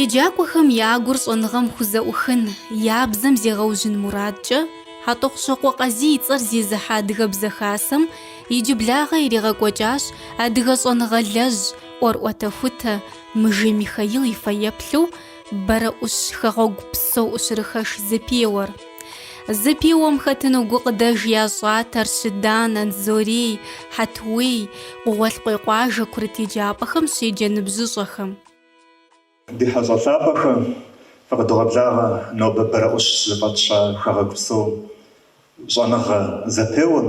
Еджакӏуэхэм я гур щӏэныгъэм хузэӏухын, я бзэм зегъэужьын мурадкӏэ, Хьэтӏохъущокъуэ Къазий и цӏэр зезыхьэ Адыгэбзэ Хасэм иджыблагъэ иригъэкӏуэкӏащ адыгэ щӏэныгъэлэжь, ӏуэрыӏуэтэхутэ Мыжей Михаил и фэеплъу, Бэрэӏущ хэгъуэгу псо ӏущырыхэш зэпеуэр. Зэпеуэм хэтыну гукъыдэж ящӏат Арщыдан, Анзорей, Хьэтуей, Къугъуэлъкъуей къуажэ курыт еджапӏэхэм щеджэ ныбжьыщӏэхэм. Ди хьэщӏэ лъапӏэхэ, фыкъыдогъэблагъэ нобэ Бэрэӏущ зыфӏэтща хэгъэгу псо щӏэныгъэ зэпеуэм,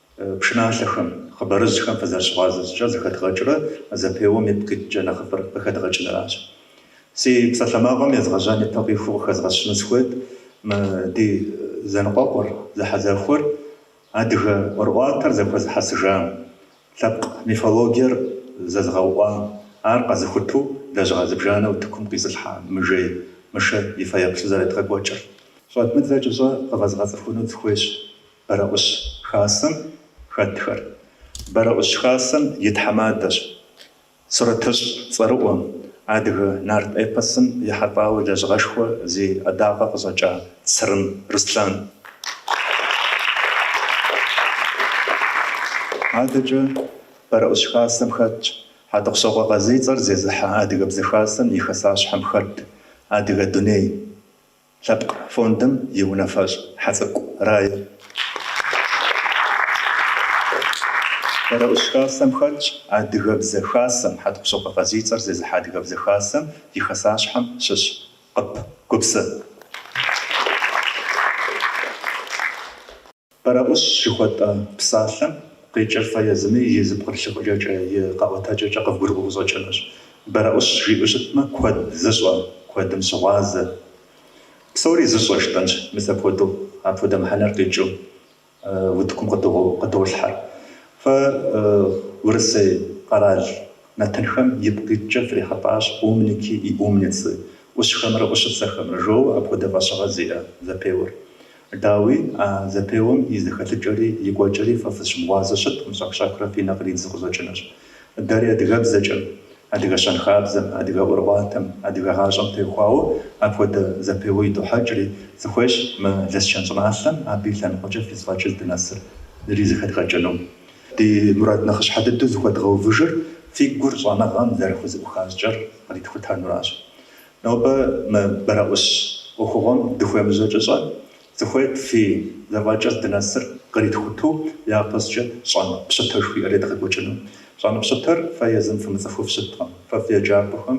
Пшыналъэхэм, хъыбарыжьхэм фызэрыщыгъуазэ щӏыкӏэр зэхэдгъэкӏрэ зэпеуэм ипкъ иткӏэ нэхъыфӏыр къыхэдгъэкӏыныращ. Си псалъэмакъым езгъэжьэн ипэ къихуэу къыхэзгъэщыну сыхуейт мы ди зэныкъуэкъур, зэхьэзэхуэр, адыгэ ӏуэрыӏуатэр зэхуэзыхьэсыжам, лъэпкъ мифологиер зэзыгъэуӏуам, ар къэзыхуту лэжьыгъэ зыбжанэ утыкум къизылъхьа Мыжей Мышэ и фэеплъу зэредгъэкӏуэкӏыр. Щӏэдмыдзэ кӏыщӏэ къывэзгъэцӏыхуну сыхуейщ Бэрэӏущ хасэм хэтхэр. Бэрэӏущ хасэм и тхьэмадэщ сурэтыщӏ цӏэрыӏуэм, адыгэ нарт эпосым ехьэлӏауэ лэжьыгъэшхуэ зи ӏэдакъэ къыщӏэкӏа Црым Руслан. Адэкӏэ Бэрэӏущ хасэм хэтщ Хьэтӏохъущокъуэ Къазий и цӏэр зезыхьэ Адыгэбзэ Хасэм и хэсащхьэм хэт Адыгэ дуней лъэпкъ фондым и унафэщӏ Хьэцӏыкӏу Рае. Бэрэӏущ Хасэм хэтщ Адыгэбзэ Хасэм, Хьэтӏохъущокъуэ Къазий и цӏэр зезыхьэ Адыгэбзэ Хасэм и хэсащхьэм щыщ Къып Гупсэ. Бэрэӏущ жыхуэтӏэ псалъэм къикӏыр фэ езыми и зэпкърылъ хъукӏэкӏэ, и къэӏуэтэкӏэкӏэ къывгурыӏуэу къыщӏэкӏынущ. Бэрэӏущ жиӏэу щытмэ, куэд зыщӏэ, куэдым щыгъуазэ. Псори зыщӏэ жытӏэнщ мис апхуэдэу, апхуэдэ мыхьэнэр къикӏыу утыкум къыдолъхьэр. Фэ Урысей къэрал нэтынхэм ипкъ иткӏэ фрихьэлӏащ умники и умницы, ӏущхэмрэ ӏущыцэхэмрэ, жоуэ апхуэдэ фӏэщыгъэ зиӏэ зэпеуэр. Дауи, а зэпеуэм и зэхэлъыкӏэри и кӏуэкӏэри фэ фызыщымыгъуазэу щыткъым, щӏэх-щӏэхрэ фи нэ къридзу къыщӏэкӏынущ. Дэри адыгэбзэкӏэм, адыгэ щэнхабзэм, адыгэ ӏуэрыӏуатэм, адыгэ гъащӏэм теухуауэ апхуэдэ зэпеуэ идохьэкӏри, сыхуейщ мы Лэскэн щӏыналъэм абы и лъэныкъуэкӏэ фи зэфӏэкӏыр здынэсыр ризэхэдгъэкӏыну. Ди мурад нэхъыщхьэ дыдэу зыхуэдгъэувыжыр фи гур щӏэныгъэм зэрыхузэӏуха щӏыкӏэр къритхутэнуращ. Нобэ мы бэрэӏущ ӏуэхугъуэм дыхуемыжьэкӏэ щӏэн сыхуейт фи зэфӏэкӏыр дынэсыр къритхуту япэщӏыкӏэ щӏэн пщытэ жыхуиӏэр едгъэкӏуэкӏыну. Щӏэн пщытэр фэ езым фымыцӏыхуу фщыткъым. Фэ фи еджапӏэхэм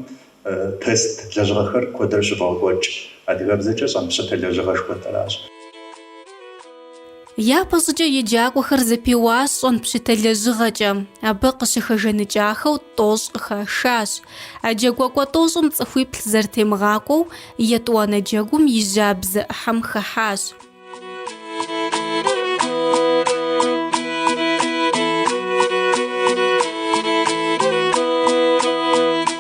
тест лэжьыгъэхэр куэдрэ щывогъэкӏуэкӏ. Адыгэбзэкӏэ щӏэн пщытэ лэжьыгъэ жыхуэтӏэращ. Япэ щӏыкӏэ еджакӏуэхэр зэпеуащ щӏэн пщытэ лэжьыгъэкӏэ, абы къыщыхэжэныкӏахэу тӏощӏ къыхашащ. А джэгуакӏуэ тӏощӏым цӏыхуиплӏ зэрытемыгъакӏуэу етӏуанэ джэгум и жьабзэ ӏыхьэм хыхьащ.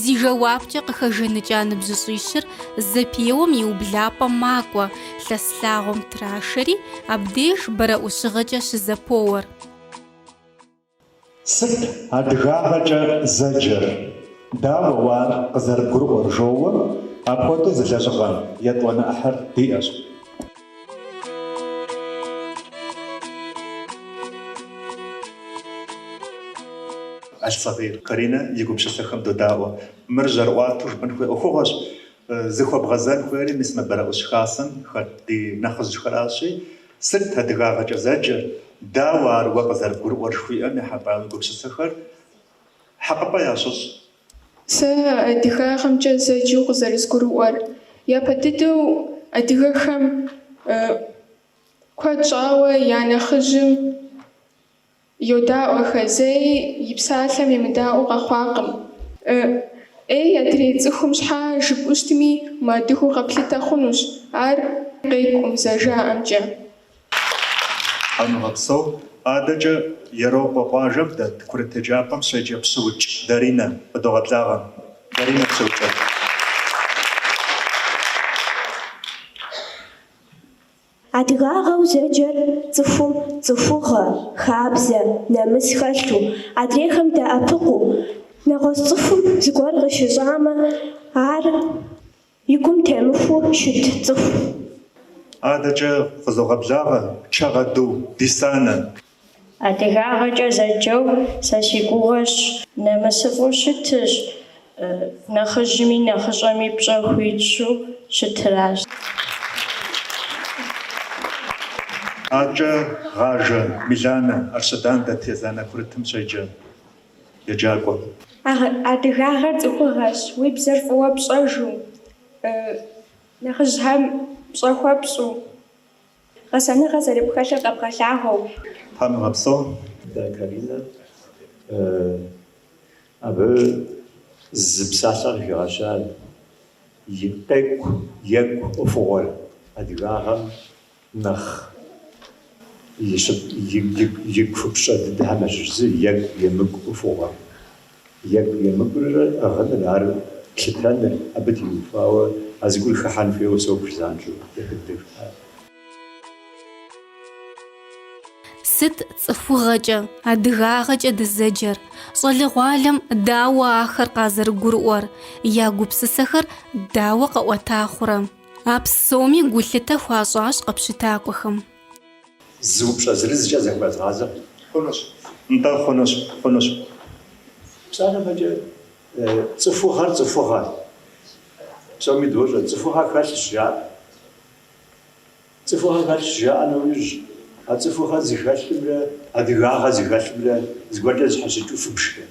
Зи жэуапкӏэ къыхэжэныкӏа ныбжьыщӏищыр зэпеуэм и ублапӏэм макӏуэ, лъэс лъагъуэм трашэри, абдеж бэрэӏущыгъэкӏэ щызэпоуэр. Сыт адыгагъэкӏэ зэджэр? Дауэ уэ ар къызэрыбгурыӏуэр? жоуэ, апхуэдэу зы лэжьыгъэ етӏуанэ ӏыхьэр диӏэщ. Аль-Сагъир Каринэ и гупсысэхэм додаӏуэ. Мыр жьэрыӏуатэу жыпӏэн хуей ӏуэхугъуэщ. Зыхуэбгъэзэн хуейри мис мы Бэрэӏущ Хасэм хэт ди нэхъыжьхэращи, сыт адыгагъэкӏэ зэджэр, дауэ ар уэ къызэрыбгурыӏуэр жыхуиӏэм ехьэлӏауэ уи гупсысэхэр хьэкъыпӏэ ящыщӏ. Сэ адыгагъэмкӏэ зэджэу къызэрызгурыӏуэр, япэ дыдэу адыгэхэм куэд щӏауэ я нэхъыжьым йодаӏуэхэ, зэи и псалъэм емыдаӏуэу къэхъуакъым. Ӏей адрей цӏыхум щхьа жыпӏэу щытми, мыадыгэу къэплъытэ хъунущ, ар къекӏум, зэжаӏэмкӏэ. Тхьэм уигъэпсэу, адэкӏэ Ерокъуэ къуажэм дэт курыт еджапӏэм щеджэ Пщыукӏ Даринэ къыдогъэблагъэ. Даринэ Пщыукӏ. Адыгагъэу зэджэр цӏыхум цӏыхугъэ, хабзэ, нэмыс хэлъу, адрейхэм дэӏэпыкъуу, нэгъуэщӏ цӏыхум зыгуэр къыщыщӏамэ, ар. И гум темыхуэу щыт цӏыху. Адэкӏэ къызогъэблагъэ Чэгъэду Дисанэ. Адыгагъэкӏэ зэджэу сэ си гугъэщ. Нэмысыфӏу щытыщ, нэхъыжьми нэхъыщӏэми пщӏэ хуищӏу щытыращ. Адэкӏэ Гъажэ Миланэ, Арщыдан дэт езанэ курытым щеджэ. еджакӏуэ. Адыгагъэр цӏыхугъэщ, уи бзэр фӏыуэ пщӏэжу, нэхъыжьхэм пщӏэ хуэпщӏу, гъэсэныгъэ зэрыпхэлъыр къэбгъэлъагъуэу. Тхьэм уигъэпсэу, дэ Каринэ, абы зы псалъэ къыхигъэща, и къекӏу, екӏу ӏуэхугъуэр адыгагъэм. нэхъ и купщӏэ дыдэхэм ящыщ зы екӏу емыкӏу ӏуэхугъуэр. Екӏу емыкӏур ӏыгъыныр, ар плъытэныр, абы теухуауэ а зыгуэр хыхьэн хуейуэ собж, занщӏэу ехыддэхар. Сыт цӏыхугъэкӏэ, адыгагъэкӏэ дызэджэр? Щӏалэгъуалэм дауэ ахэр къазэрыгурыӏуэр, я гупсысэхэр дауэ къэӏуэта хъурэ? А псоми гулъытэ хуащӏащ къэпщытакӏуэхэм. Зы упщӏэ зырызкӏэ зыхуэзгъазэ. Хъунущ. Нтӏэ, хъунущ, хъунущ. Псалъэм щхьэкӏэ цӏыхугъэр цӏыхугъэ. Псоми дощӏэ, цӏыхугъэ хэлъщ жаӏэ. Цӏыхугъэ хэлъщ жаӏэ нэужь, а цӏыхугъэ зыхэлъымрэ адыгагъэ зыхэлъымрэ зыгуэркӏэ зэщхьэщыкӏыу фыбжкъым.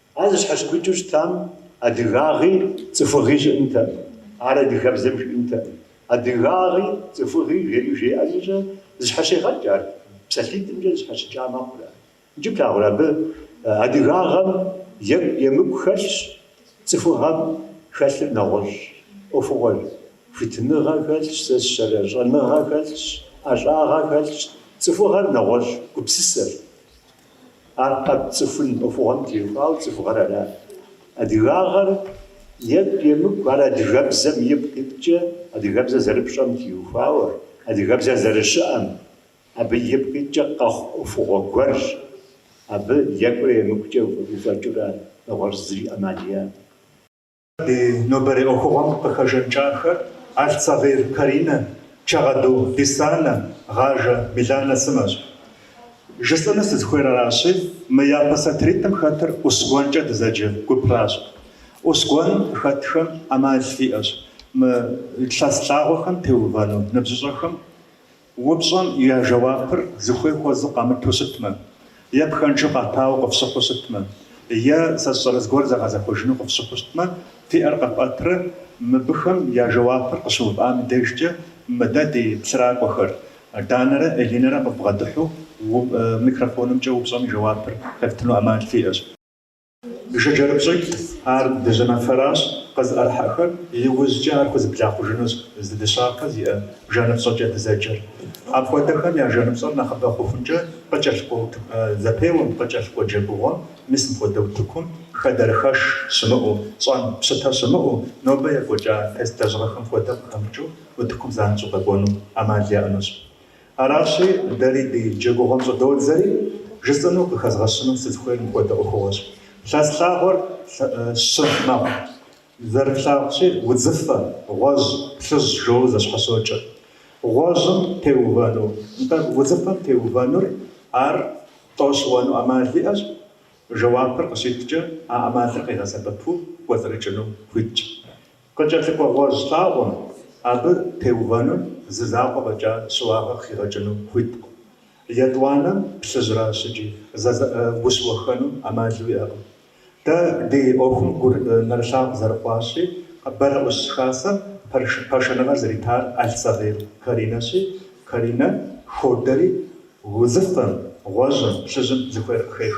Ар зэщхьэщымыкӏыу щытам адыгагъи цӏыхугъи щыӏэнтэкъым, ар адыгэбзэм жиӏэнтэкъым. Адыгагъи цӏыхугъи жери жеӏэ щхьэкӏэ зэщхьэщегъэкӏ ар, псалъитӏымкӏэ зэщхьэщыкӏа мэхъур ар. Иджы плъагъурэ абы, адыгагъэм екӏу емыкӏу хэлъщ, цӏыхугъэм хэлъыр нэгъуэщӏ ӏуэхугъуэщ, хуитыныгъэ хэлъщ, сэ сщӏэрэ щӏэныгъэ хэлъщ, ӏэщӏагъэ хэлъщ, цӏыхугъэр нэгъуэщӏ гупсысэщ. Ар къэпцӏыхун ӏуэхугъуэм теухуауэ цӏыхугъэр арат. Адыгагъэр екӏу емыкӏу ар адыгэбзэм ипкъ иткӏэ, адыгэбзэр зэрыпщӏэм теухуауэ, адыгэбзэр зэрыщыӏэм, абы ипкъ иткӏэ къэхъу ӏуэхугъуэ гуэрщ. Абы екӏурэ емыкӏукӏэ уфӏэкӏыурэ нэгъуэщӏ зыри ӏэмал иӏэкъым. Ди нобэрей ӏуэхугъуэм къыхэжаныкӏахэр Алъцагъир Каринэ, Чагъэду Дисанэ, Гъажэ Миланэ сымэщ. Жысӏэну сызыхуейр аращи, мы япэ сатыритӏым хэтыр Ӏусгуэнкӏэ дызэджэ гупращ. Ӏусгуэн хэтхэм ӏэмал иӏэщ мы лъэс лъагъуэхэм теувэну ныбжьыщӏэхэм Упщӏэм я жэуапыр зыхуей хуэзэу къамыту щытмэ, е пхэнжу къатауэ къыфщыхъуу щытмэ, е сэ сщӏэрэ зыгуэр зэгъэзэхуэжыну къыфщыхъуу щытмэ, фи ӏэр къэпӏэтрэ мыбыхэм я жэуапыр къыщыувыӏам и дежкӏэ мыдэ ди плъыракӏуэхэр, Данэрэ Элинэрэ къывбгъэдыхьу, микрофонымкӏэ упщӏэм и жэуапыр къефтыну ӏэмал фиӏэщ. Жыджэрыпщӏитӏ, ар дыжьыныфэращ, къызыӏэрыхьэхэр иужькӏэ ар хузэблахъужынущ зы дыщапэ зиӏэ жэныпщӏэкӏэ дызэджэр. Апхуэдэхэм я жэныпщӏэр нэхъыбэ хъухункӏэ къыкӏэлъыкӏуэ утыку, зэпеуэм, къыкӏэлъыкӏуэ джэгугъуэм, мис мыпхуэдэ утыкум хэдэрыхэш щымыӏэу, щӏэн, пщытэ щымыӏэу, нобэ екӏуэкӏа тест лэжьыгъэхэм хуэдэ къыхэмыкӏыу утыкум занщӏэу къэкӏуэну ӏэмал яӏэнущ. Аращи, дэри ди джэгугъуэм щӏыдодзэри, жысӏэну къыхэзгъэщыну сызыхуейр мыпхуэдэ ӏуэхугъуэщ. Лъэс лъагъуэр щы мэхъу, зэрыплъагъущи, удзыфэ, гъуэжь, плъыжь жоуэ зэщхьэщокӏэ. Гъуэжьым теувэну, нтӏэ, удзыфэм теувэнур ар тӏэу щыуэну ӏэмал иӏэщ, жэуапыр къыщиткӏэ, а ӏэмалыр къигъэсэбэпу кӏуэцӏрыкӏыну хуитщ. Къыкӏэлъыкӏуэ гъуэжь лъагъуэм абы теувэным зы закъуэ фӏэкӏа щыуагъэ хигъэкӏыну хуиткъым. Етӏуанэм плъыжьращ икӏи ущыуэххэну ӏэмал уиӏэкъым. Дэ ди ӏуэхум гур нэрылъагъу зэрыхъуащи, Бэрэӏущ Хасэм пашэныгъэр зэритар Алсабер Каринэщи, Каринэ ходэри удзыфэм, гъуэжьым, плъыжьым зыхуейр къыхех.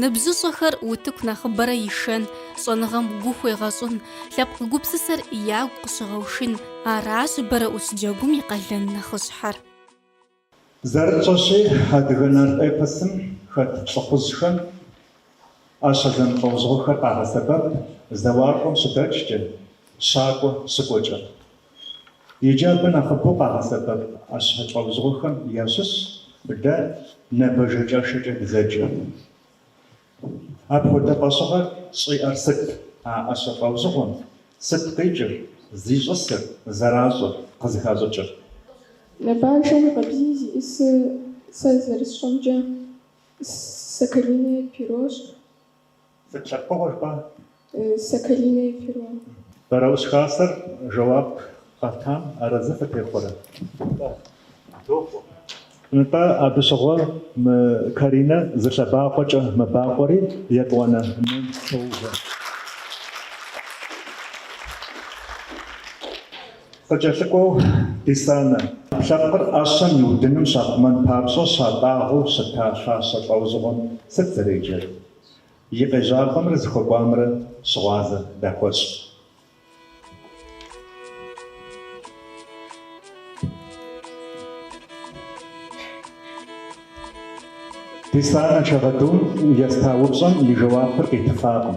Ныбжьыщӏэхэр утыку нэхъыбэрэ ишэн, щӏэныгъэм гу хуегъэщӏын, лъэпкъ гупсысэр ягу къыщыгъэушын, аращ Бэрэӏущ Джэгум и къалэн нэхъыщхьэр. Зэрытщӏэщи, адыгэ нарт эпосым хэт лӏыхъужьхэм ӏэщэ зэмылӏэужьыгъуэхэр къагъэсэбэп зэуакӏуэм щыдэкӏкӏэ, щакӏуэ щыкӏуэкӏэ. Иджы абы нэхъыбэу къагъэсэбэп ӏэщэ лӏэужьыгъуэхэм ящыщщ дэ набэжэкӏэшэкӏэ дызэджэр. Апхуэдэ фӏэщыгъэр щӏиӏэр сыт а ӏэщэ лӏэужьыгъуэм, сыт къикӏыр, зищӏысыр, зэращӏыр, къызыхащӏыкӏыр? Набажэм къабзий зиӏысыр, сэ зэрысщӏэмкӏэ, Соколиное перощ. Сыт лъэпкъыгъуэ жыпӏа? Соколиное перо. Бэрэӏущ Хасэр жэуап къэтам арэзы фытехъуэрэ? Нтӏэ, дохъуэ. Нтӏэ, абы щыгъуэ мы Каринэ зы лъэбакъуэкӏэ мэбакъуэри, етӏуанэм щоувэ. Къыкӏэлъыкӏуэу Дисанэ, ӏэпкълъэпкъыр ӏэщэм и удыным щахъумэн папщӏэ щатӏагъэу щыта фащэ лӏэужьыгъуэм сыт зэреджэр? И къежьапӏэмрэ зыхуэкӏуамрэ щыгъуазэ дыхуэщӏ. Дисанэ Чагъэдум еста упщӏэм и жэуапыр къитыфакъым.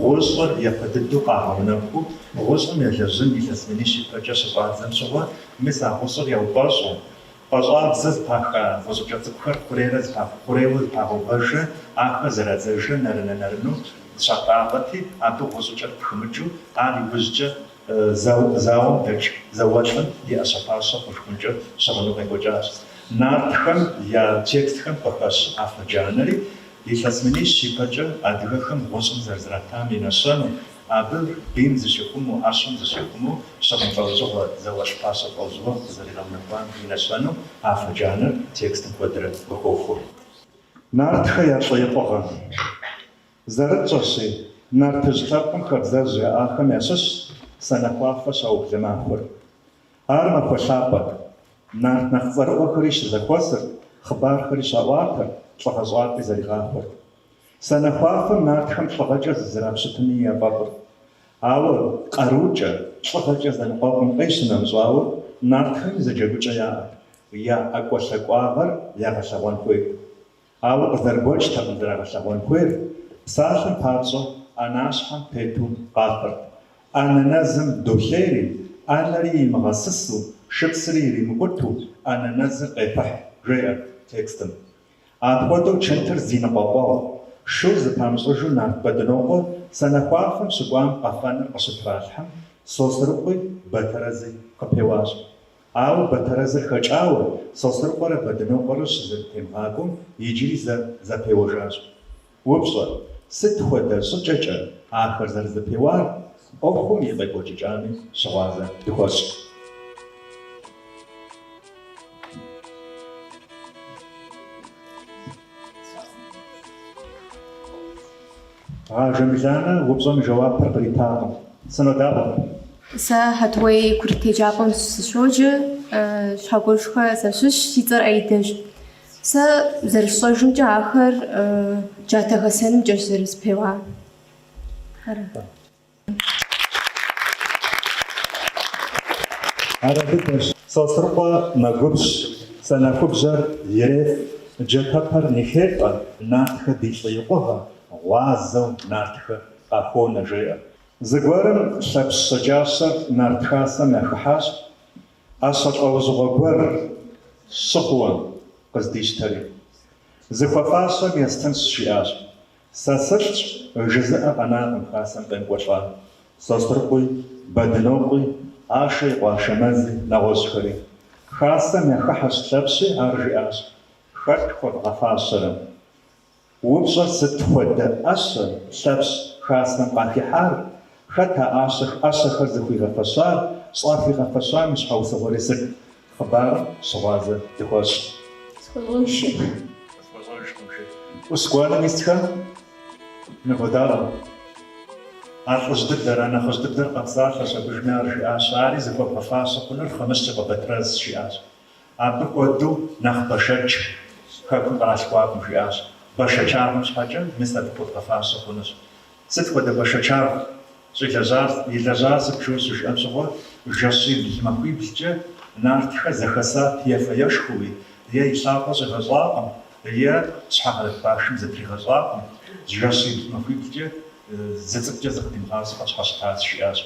Гъущӏыр япэ дыдэу къагъэунэхуу, гъущӏым елэжьын илъэс минищ ипэкӏэ щыщӏадзэм щыгъуэ, мис а гъущӏыр яупӏэщӏ. Пӏащӏабзэу зыпаха гъущӏыкӏэ цӏыкӏухэр хъурейрэ зыпах, хъурейуэ зыпагъэувэжрэ ахэр зэрадзэжрэ нэрынэ-нэрыну зыщатӏагъэти, абы гъущӏыкӏэр пхымыкӏыу, ар иужькӏэ зауэм дэкӏ зауэлӏым и ӏэщэ-фащэ хъушхункӏэ щыгъыну къекӏуэкӏащ. Нартхэм я текстхэм къыхэщ афэ джанэри Илъэс минищ ипэкӏэ адыгэхэм гъущӏым зэрызратам и нэщэнэу, абы бийм зыщихъумэу, ӏэщым зыщихъумэу щыгъын лӏэужьыгъуэ зауэлӏ фащэ лӏэужьыгъуэ къызэригъэунэхуам и нэщэнэу афэ джанэр текстым куэдрэ къыхохуэ. Нартхэ я лӏыикъугъэм. Зэрытщӏэщи, нартыжь лъэпкъым хабзэжь яӏахэм ящыщщ Санэхуафэ щаублэ махуэр. Ар махуэ лъапӏэт. Нарт нэхъ цӏэрыӏуэхэри щызэхуэсырт, хъыбархэри щаӏуатэрт, лӏыгъэщӏапӏи зэригъахуэрт. Санэхуафэм нартхэм лӏыгъэкӏэ зызэрапщытыни яфӏэфӏырт. Ауэ къарукӏэ, лӏыгъэкӏэ зэныкъуэкъум къищынэмыщӏауэ, нартхэми зы джэгукӏэ яӏэт, я ӏэкӏуэлъакӏуагъэр ягъэлъэгъуэн хуейт. Ауэ къызэрыгуэкӏтэкъым зэрагъэлъэгъуэн хуейр, псалъэм папщӏэ ӏэнащхьэм тету къафэрт. ӏэнэ нэзым долъейри, ӏэнэри имыгъэсысу, шыпсри иримыкъуту ӏэнэ нэзыр къепыхь, жеӏэр текстым. Апхуэдэу чынтыр зи ныкъуэкъуэгъу, шу зыпамыщӏыжу нарт Бэдынокъуэ санэхуафэм щыкӏуам къэфэныр къыщытралъхьэм, Сосрыкъуи Батэрэзи къыпеуащ. Ауэ Батэрэзыр хэкӏауэ, Сосрыкъуэрэ Бэдынокъуэрэ щызэрытемыгъакӏуэм, иджыри зэ зэпеуэжащ. Упщӏэ, сыт хуэдэ щӏыкӏэкӏэ ахэр зэрызэпеуар, ӏуэхум и къекӏуэкӏыкӏами щыгъуазэ дыхуэщӏ. Ажэ Миланэ упщӏэм и жэуапыр къритакъым. Сынодапӏэ. Сэ Хьэтуей курыт еджапӏэм сыщоджэ, Щхьэгуэшхэ сащыщ, си цӏэр Аидэщ. Сэ зэрысщӏэжымкӏэ ахэр джатэ хэсэнымкӏэщ зэрызэпеуар. Ара? Ар апхуэдэщ. Сосрыкъуэ мэгубжь, санэхубжьэр иреф, джатэпэр ныхетӏэ, нартхэ ди лӏыикъугъэ, гъуазэу нартхэ къахуонэ, жеӏэ. Зыгуэрым Лъэпщ щэджащэр нарт хасэм яхыхьащ, ӏэщэ лӏэужьыгъуэ гуэр щы хъууэ къыздищтэри. Зыхуэфащэм естынщ, жиӏащ. Сэ сылӏщ, жызыӏэ къэнакъым хасэм къекӏуэлӏа Сосрыкъуи, Бэдынокъуи, Ашэ и къуэ Ашэмэзи, нэгъуэщӏхэри. Хасэм яхыхьэщ Лъэпщи, ар жиӏащ, Хэт хуэвгъэфащэрэ? Упщӏэр сыт хуэдэ ӏэщэ, Лъэпщ, хасэм къахихьар, Хэт а ӏэщэхэр зыхуигъэфэщар, щӏыхуигъэфэщам и щхьэусыгъуэри сыт? Хъыбарым щыгъуазэ дыхуэщӏ. ӏус гуанэм исхэр ныводаӏуэ. А лӏыжь дыдэр, а нэхъыжь дыдэр къэпсалъэщ абыжми, ар жиӏащ, ари зыхуэбгъэфащэ хъунур Хъымыщ и къуэ Батрэз жиӏащ. Абы хуэдэу нэхъ бэшэч Хэкум къыралъхуакъым жиӏащ. Бэшэчагъэм щхьэкӏэ мис абы хуэбгъэфащэ хъунущ. Сыт хуэдэ бэшэчагъ щӏилэжьар, илэжьар сыт жо щыжиӏэм щыгъуэ, жэщибл махуиблкӏэ нартхэр зэхэса ефэ-ешхэуи, е и лъакъуэ щӏигъэщӏакъым, е щхьэгъэрыт башым зытригъэщӏакъым, жэщибл махуиблкӏэ зы цӏыкӏукӏэ зыкъыдимыгъащӏэу къытщхьэщытащ, жиӏащ.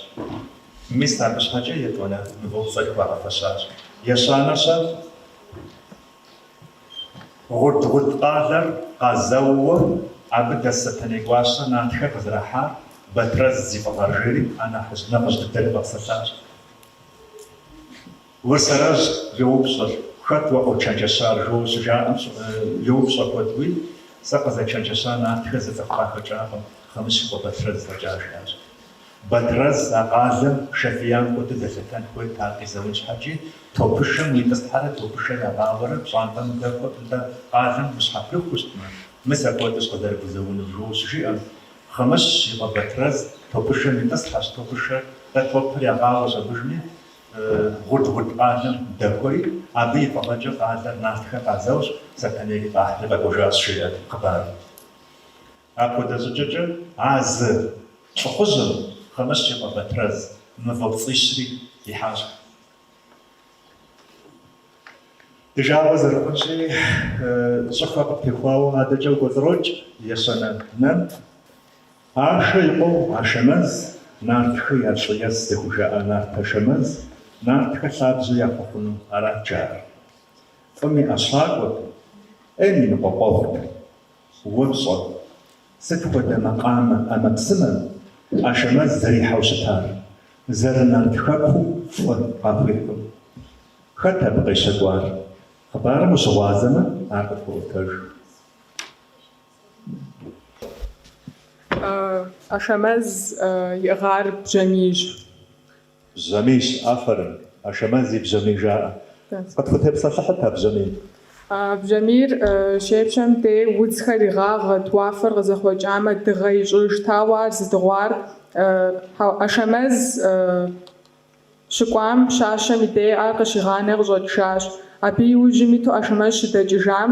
Мис абы щхьэкӏэ, етӏуанэ, мывэупцӏэр хуагъэфэщащ. Ещанэ-щэ? Гъуд-Гъуд къалэр къазэууэ, абы дэс Сэтэней гуащэ нартхэр къызэрахьар Батрэз зи фӏыгъэр жери а нэхъыжь нэхъыжь дыдэри къэпсэлъащ. Уэрсэрыжь йоупщӏыр, Хэт уэ къочэнджэщар? жо щыжаӏэм йоупщӏэ куэдуи, Сэ къызэчэнджэща нартхэр зы цӏыху къахэкӏакъым, Хъымыщ и къуэ Батрэз фӏэкӏа, жиӏащ. Батрэз а къалэм шэ фиям хуэдэу дэлъэтэн хуейт, ар къизэун щхьэкӏи, топышэм уитӏысхьэрэ топышэр ягъауэрэ пщӏантӏэм дэхуэ пӏытӏэ къалэм ущхьэпрыхущтмэ, мис апхуэдэущ къызэрыпхуэзэунур, жо щыжиӏэм, Хъымыщ и къуэ Батрэз топышэм итӏысхьэщ, топышэр, тӏэ топыр ягъауэщ абыжми, Гъуд-Гъуд къалэм дэхуэри, абы и фӏыгъэкӏэ къалэр нартхэ къазэущ, Сэтэнейри къахьри къэкӏуэжащ, жеӏэ хъыбарым. Апхуэдэ щӏыкӏэкӏэ а зы лӏыхъужьым, Хъымыщ и къуэ Батрэз, мывэупцӏищри ихьащ. Ди жагъуэ зэрыхъунщи, щӏыхуэ къыптехуауэ адэкӏэ укӏуэцӏрокӏ ещанэ Нэнт. Ашэ и къуэу Ашэмэз, Нартхэ я лӏыес зыхужаӏа Нарт Ашэмэз, Нартхэ лъабжьэ яхуэхъуну арат жаӏэр. Фӏым и ӏэщакӏуэт, ӏейм и ныкъуэкъуэгъут. Упщӏэ, сыт хуэдэ макъамэ ӏэмэпсымэ Ашэмэз зэрихьэу щытар, зэрынарт хэкуу фӏы къахуихьу? Хэт абы къещэкӏуар? Хъыбарым ущыгъуазэмэ, ар къытхуэӏуэтэж. Ашэмэз иӏыгъар бжьамийщ. Бжьамийщ, афэрым. Ашэмэз и бжьамий жаӏэ. Къытхутепсэлъыхьыт а бжьамийр. Бжьамийр щепщэм дей удзхэр игъагъэт, уафэр къызэхъуэкӏамэ, дыгъэ ищӏыжт, ауэ ар зыдыгъуар. Ашэмэз щыкӏуам пщащэм и дей ар къыщигъанэ къыщӏэкӏыжащ. Абы и ужьым иту Ашэмэз щыдэкӏыжам,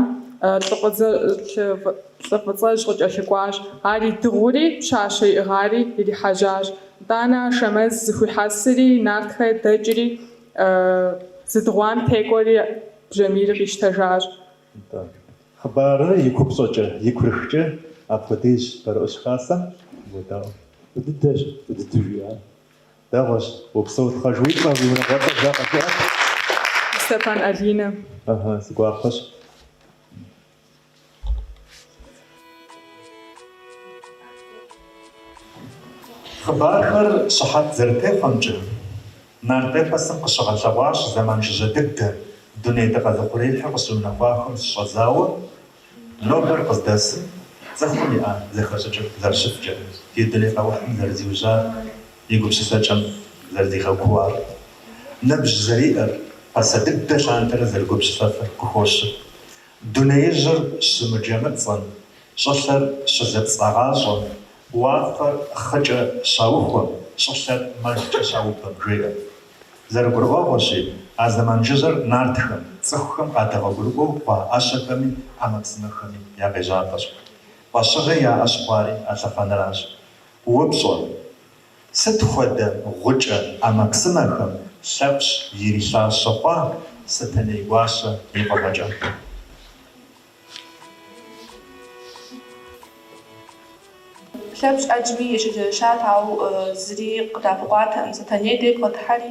лӏы фӏыцӏэжь къыкӏэлъыкӏуащ. Ар идыгъури, пщащэ иӏыгъари ирихьэжьащ. Тӏанэ Ашэмэз зыхуихьэсри, нартхэ дэкӏри, зыдыгъуам текӏуэри бжьамийр къищтэжащ. Нтӏэ, хъыбарыр и купщӏэкӏэ, и курыхкӏэ апхуэдэщ Барэӏущ Хасэм. Уедаӏуэ. Фӏы дыдэщ, фӏы дыдэу жиӏар. Дэгъуэщ, упсэу тхъэж, уи цӏэ, уи унагъуэцӏэр жаӏэ жыӏэт. Стефан Алинэ. Ыхьы, си гуапэщ. Хъыбархэр щыхьэт зэрытехъуэмкӏэ, нарт эпосым къыщыгъэлъэгъуащ зэман жыжьэ дыдэ, дуней дыкъэзыухъуреихьыр къыщыунэхуахэм щыщӏэдзауэ, нобэр къыздэсым цӏыхум иӏэ зэхэщӏыкӏыр зэрыщыткӏэ, ди дуней къэухьым зэрызиужьар. и гупсысэкӏэм зэрыдигъэкууар, ныбжь зэриӏэр, пасэ дыдэ лъандэрэ зэрыгупсысэфыр къыхощы. Дунеижьыр щымыджэмыцӏэм, щӏылъэр щызэпцӏагъащӏэм, уафэр хъыкӏэ щаухуэм, щӏылъэр мэлкӏэ щаубэм, жеӏэ. Зэрыгурыӏуэгъуэщи, а зэман жыжьэр нартхэм, цӏыхухэм къадэгъуэгурыкӏуэу хъуа ӏэщэхэми ӏэмэпсымэхэми я къежьапӏэщ. Фӏэщыгъэ яӏэ щыхъуари а лъэхъэнэращ. Упщӏэ, сыт хуэдэ гъукӏэ ӏэмэпсымэхэм Лъэпщ ирилажьэ хъуа Сэтэней гуащэ и фӏыгъэкӏэ? Лъэпщ ӏэджэми ечэнджэщат, ауэ зыри къыдэӏэпыкъуатэкъым. Сэтэней дей бгъэдыхьэри,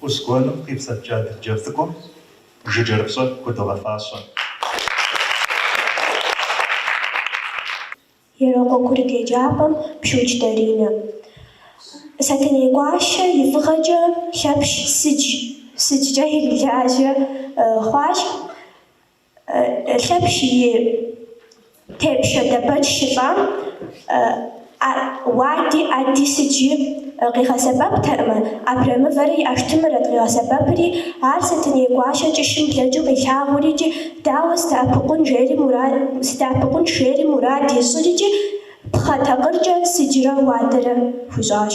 Къус гуэным къипсэлъкӏэ адыдджэ цӏыкӏум Жыджэрыпщӏэ худогъэфащэ. Ерокъуэ курыт еджапӏэм Пшуч Даринэ. Сэтэней гуащэ и фӏыгъэкӏэ Лъэпщ сыдж сыджкӏэ ирилажьэ хъуащ. Лъэпщ и тепщэ Дэбэч щылӏам уади ӏэди сыджи къигъэсэбэптэӏымэ, абрэмывэрэ и ӏэштымрэт къигъэсэбэпри, ар Сэтэней гуащэ кӏыщым блэкӏыу къилъагъурикӏи, дауэ сыдэӏэпыкъун жери мурад, сыдэӏэпыкъунщ жери мурад ищӏырикӏи, пхъэ такъыркӏэ сыджрэ уадэрэ хуищӏащ.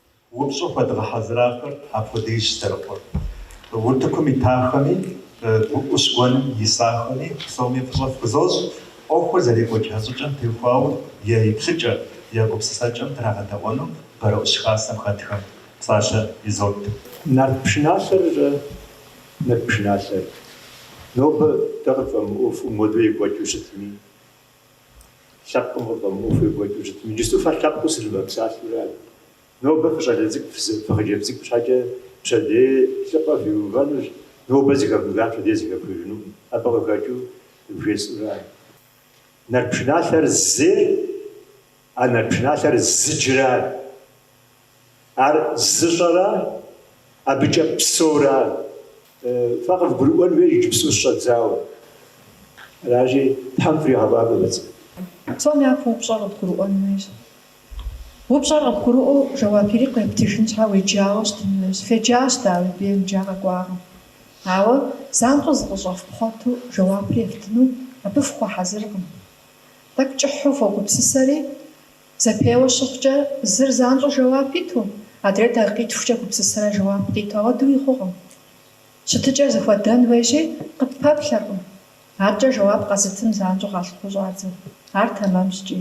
Упщӏэу хуэдгъэхьэзырахэр апхуэдизщ зэрыхъур. Утыкум итахэми, ӏущ гуэным исахэми псоми фӏыщӏэ фхузощӏ, ӏуэхур зэрекӏуэкӏа щӏыкӏэм теухуауэ я еплъыкӏэ, я гупсысэкӏэм драгъэдэӏуэну Бэрэӏущ Хасэм хэтхэм псалъэ изот. Нарт пшыналъэррэ Нарт пшыналъэр? Нобэ дэ къытфӏэмыӏуэхуу модэу екӏуэкӏыу щытми. Лъэпкъым къыфӏэмыӏуэхуу екӏуэкӏыу щытми, иджысту фэ лъэпкъыу сынывэпсалъэурэ ар. Нобэ фыщӏалэ цӏыкӏу, фыхъыджэбз цӏыкӏу щхьэкӏэ пщэдей лӏыпӏэ фиувэнущ, нобэ зыхэвмыхар пщэдей зыхэфхыжынукъым, абы къыхэкӏыу жесӏэурэ ар. Нарт пшыналъэр зейр, а нарт пшыналъэр зыджыр ар. Ар зыщӏэра, абыкӏэ псэура? Фэ къывгурыӏуэн хуейщ иджыпсту щыщӏэдзауэ. Аращи, Тхьэм фригъэфӏакӏуэ фӏыкӏэ. Псом япэу упщӏэр къыбгурыӏуэн хуейщ. Упщӏэр къыбгурыӏуэу жэуап ирикъу ептыжын щхьэ уеджауэ щытын хуейщ. Феджащ дауи, фемыджауэ фыкъэкӏуакъым. Ауэ занщӏэу зыкъыщӏэфпхъуэту жэуапыр ефтыну абы фыхуэхьэзыркъым. Тӏэкӏу кӏыхьу фогупсысэри, Зэпеуэ щыхъукӏэ, зыр занщӏэу жэуап иту, адрейр дакъикъитхукӏэ гупсысэрэ жэуап къиту, апхуэдэуи хъукъым. Щытыкӏэр зэхуэдэн хуейщи, къыппэплъэркъым. Адэкӏэ жэуап къэзытын занщӏэу къалъыхъуэу щӏадзэ. Ар тэмэмщ икӏи.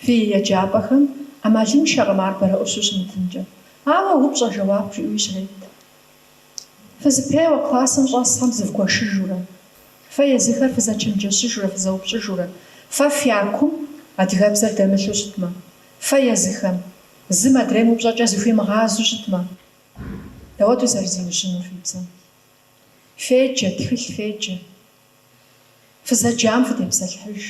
Фи еджапӏэхэм ӏэмалыншэкъым ар бэрэӏущу щымытынкӏэ. Ауэ упщӏэ жэуап жиӏэуи щрет. Фызэпеуэ классым щӏэсхэм зывгуэшыжурэ. Фэ езыхэр фызэчэнджэщыжурэ фызэупщӏыжурэ. Фэ фякум адыгэбзэр дэмылъу щытмэ. Фэ езыхэм. Зым адрейм упщӏэкӏэ зыхуимыгъазу щытмэ. Дауэт зэрызиужьынур фи бзэм? Феджэ, тхылъ феджэ. Фызэджам фытепсэлъыхьыж.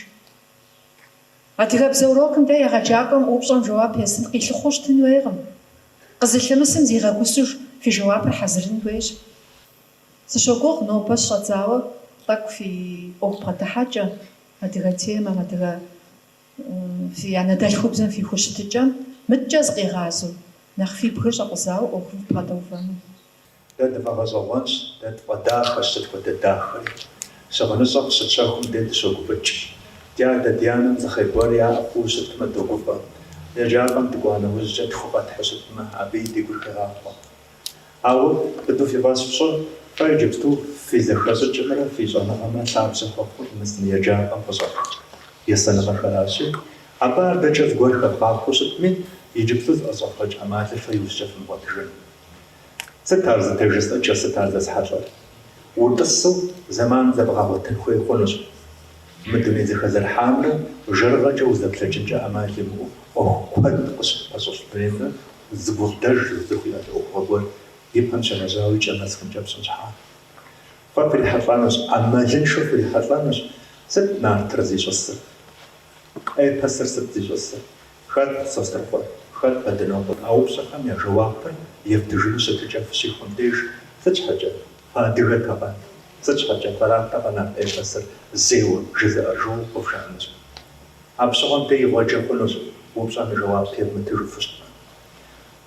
Адыгэбзэ урокым дей егъэджакӏуэм упщӏэм жэуап езым къилъыхъуэу щытын хуейкъым. Къызылъымысым зигъэгусэжу фи жэуапыр хьэзырын хуейщ. Сыщогугъ нобэ щыщӏэдзауэ тӏэкӏу фи ӏуэху бгъэдыхьэкӏэ, адыгэ темэм, адыгэ фи анэдэлъхубзэм фи хущытыкӏэм мыдэкӏэ зыкъигъазэу, нэхъ фи бгыр щӏэкъузауэ ӏуэхум фыбгъэдэувэну. Дэ тфӏэгъэщӏэгъуэнщ, дэ тфӏэдахэщ, сыт хуэдэ дахэри. Щыгъыныщӏэ къыщытщэхум дей дыщогуфӏыкӏ. Ди адэ, ди анэм зы хъер гуэр яӏэ хъууэ щытмэ, догуфӏэ. Еджапӏэм дыкӏуа нэужькӏэ тху къэтхьу щытмэ, абыи ди гур хегъахъуэ. Ауэ быдэу фи фӏэщ фщӏы, фэ иджыпсту фи зэхэщӏыкӏымрэ фи щӏэныгъэмрэ лъабжьэ хуэхъур мы зы еджапӏэм къыщӏэфх есэныгъэхэращи, абы адэкӏэ зыгуэр хэбгъахъуэу щытми, иджыпсту зыӏэщӏэвгъэкӏ ӏэмалыр фэ иужькӏэ фымыгъуэтыжын. Сыт ар зытежысӏыкӏыр, сыт ар зэсхьэлӏэр? Утӏысу зэман зэбгъэгъуэтын хуей хъунущ. Мы дуней зэхэзэрыхьамрэ жэрыгъэкӏэ узэплъэкӏынкӏэ ӏэмал имыӏэу ӏуэху куэд къыщыпэщылъ дунеймрэ зы гукъыдэж зыхуиӏэ ӏуэхугъуэ гуэр и пэм щегъэжьауэ и кӏэм нэсыхункӏэ пщӏын щхьа. Фэ фрихьэлӏэнущ, ӏэмалыншэу фрихьэлӏэнущ, сыт нартыр зищӏысыр? Эпосыр сыт зищӏысыр? Хэт Сосрыкъуэр, хэт Бэдынокъуэр а упщӏэхэм я жэуапыр ефтыжыну щытыкӏэ фыщихуэм деж, Сыт щхьэкӏэ, фыадыгэтэкъэ? Сыт щхьэкӏэ фэратэкъэ нарт эпосыр зейуэ жызыӏэр жаӏэу къывжаӏэнущ. Апщыгъуэм деж игъуэджэ хъунущ, упщӏэм и жэуап евмытыжыфу щытмэ.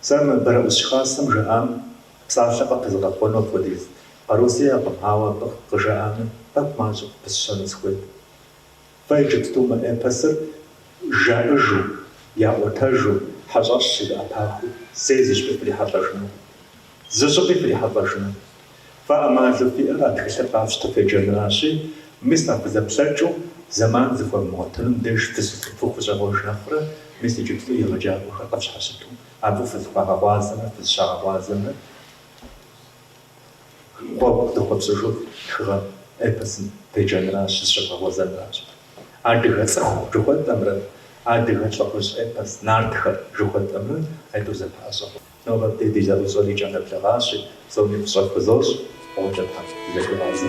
Сэ мы Бэрэӏус хасэм жаӏам псалъэ къыпызгъэхъуэну апхуэдиз къару сиӏэкъым, ауэ абы къыжаӏами, тӏэкӏу мащӏэ къыпысщэну сыхуейт. Фэ иджыпсту мы эпосыр жаӏэжу, яӏуэтэжу, хьэщӏэщ щызэӏэпахыу, зэи зыщӏыпӏи фрихьэлӏэжынукъым. Зы щӏыпӏи фрихьэлӏэжынукъым. Фэ ӏэмалу фиӏэр а тхылъыр къафщтэу феджэнращи, мис а фызэплъэкӏыу зэман зыхуэмыгъуэтыным деж фытӏысу фыхущӏегъуэж нэхърэ, мис иджыпсту егъэджакӏуэхэр къыфщхьэщыту абы фызыхуагъэгъуазэмрэ фызыщагъэгъуазэмрэ, Гъуэгу зыхуэфщӏыжу тхыгъэ эпосым феджэнращ, зыщывгъэгъуэзэнращ. Адыгэ цӏыху жыхуэтӏэмрэ адыгэ лӏыхъужь эпос нартхэр жыхуэтӏэмрэ быдэу зэпыщӏащ. Нобэ абдей ди зэӏущӏэр икӏэм нэблэгъащи, псоми фӏыщӏэ фызощӏ, фӏыкӏэ тхьэм дызэхуигъазэ.